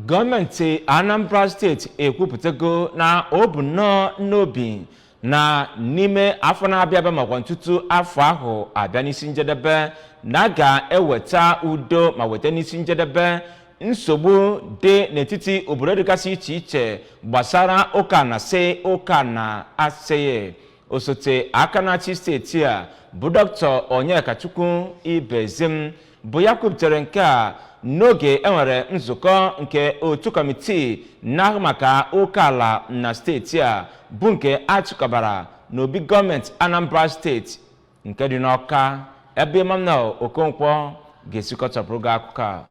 gọọmenti anambra steeti ekwupụtago na o bu nnọọ n'obi na n'ime afọ na-abịa abịa makwanụ tutu afọ ahụ abịa n'isi njedebe na a ga-eweta udo ma weta n'isi njedebe nsogbu dị n'etiti obodo dịgasị iche iche gbasara oke ana sị oke ana asịghị osote aka na-achị steeti a bụ dr onyekachukwu ibezim bụ ya kwuputere nke a n'oge e nwere nzukọ nke otu kọmitii na-ahụ maka oke ala na steeti a bụ nke a chịkọbara n'obi gọọmenti anambra steeti nke dị n'ọka ebe emmanuel okonkwo ga-esi kọtọpụrụ gị akụkọ a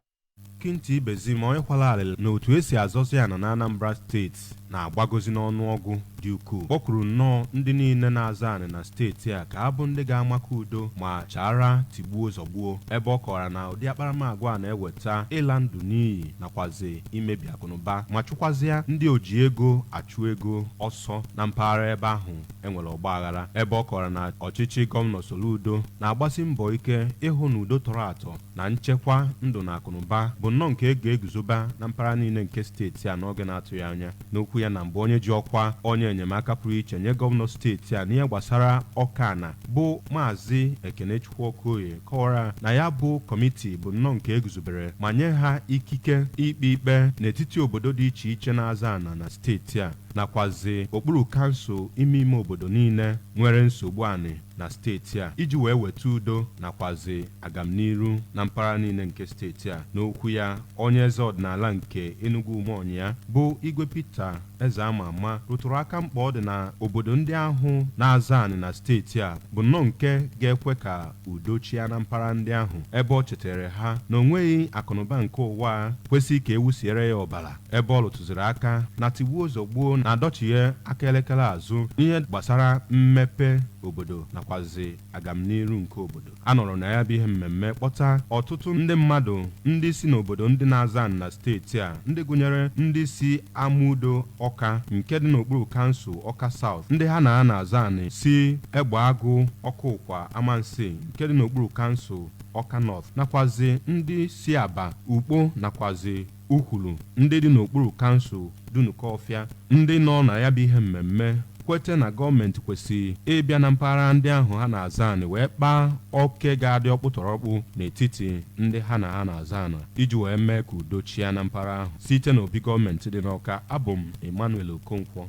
Kinti Ibezim onye kwara arịrị na otu e si azọzi ana n'Anambra steeti na-agbagozi n'ọnụọgụ dị ukwuu kpọkuru nnọọ ndị niile na-azọ anị na steeti a ka ha bụ ndị ga-amakụ udo ma chaara tigbuo zọgbuo ebe ọ kọwara na ụdị akparamagwa a na-eweta ịla ndụ n'iyi nakwazi imebi akụnụba ma chụkwazịa ndị oji ego achụ ego ọsọ na mpaghara ebe ahụ e nwere ọgbaghara ebe ọ kọwara na ọchịchị gọvanọ Soludo na-agbasi mbọ ike ịhụ na udo tọrọ atọ na nchekwa ndụ na akụnụba bụ nnọọ nke e ga-eguzoba na mpaghara niile nke steeti a n'oge na-atụghị anya. N'okwu ya na mbụ onye ji ọkwa onye enyemaka pụrụ iche nye gọvanọ steeti a n'ihe gbasara oke ana bụ Maazị Ekenechukwu Okoye kọwara na ya bụ kọmiti bụ nnọọ nke e guzobere ma nye ha ikike ikpe ikpe n'etiti obodo dị iche iche na-azọ ana na steeti a nakwazi okpuru kansụl ime ime obodo niile nwere nsogbu anị na steeti a iji wee weta udo nakwazi agamniru na mpaghara niile nke steeti a. N'okwu ya, onye eze ọdịnala nke Enugwu Umuonyia bụ Igwe Peter Ezeamama rụtụrụ aka mkpa ọ dị na obodo ndị ahụ na-azọ anị na steeti a bụ nnọọ nke ga-ekwe ka udo chịa na mpaghara ndị ahụ ebe ọ cheteere ha na o nweghị akụnụba nke ụwa a kwesị ka e wusiere ya ọbara ebe ọ rụtụziri aka na tigbuo zọgbuo na-adọchighe aka elekere azụ n'ihe gbasara mmepe obodo nakwazi agamniru nke obodo. A nọrọ na ya bụ ihe mmemme kpọta ọtụtụ ndị mmadụ ndị si n'obodo ndị na-azọ anị na steeti a ndị gụnyere ndị si Amudo Ọka nke dị n'okpuru kansụl Ọka South, ndị ha na ha na-azọ anị si Egbeagụ Okukwa Amansea nke dị n'okpuru kansụl Ọka North nakwazi ndị si Abba, Ukpo nakwazi Ukwulu ndị dị n'okpuru kansụl Dunukọfịa ndị nọ na ya bụ ihe mmemme kwete na gọọmenti kwesiri ịbịa na mpaghara ndị ahụ ha na-azọ anị wee kpaa oke ga-adị ọkpụtọrọkpụ n'etiti ndị ha na ha na-azọ ana iji wee mee ka udo chịa na mpaghara ahụ. Site n'obi gọọmenti dị n'Ọka, abụ m Emmanuel Okonkwo.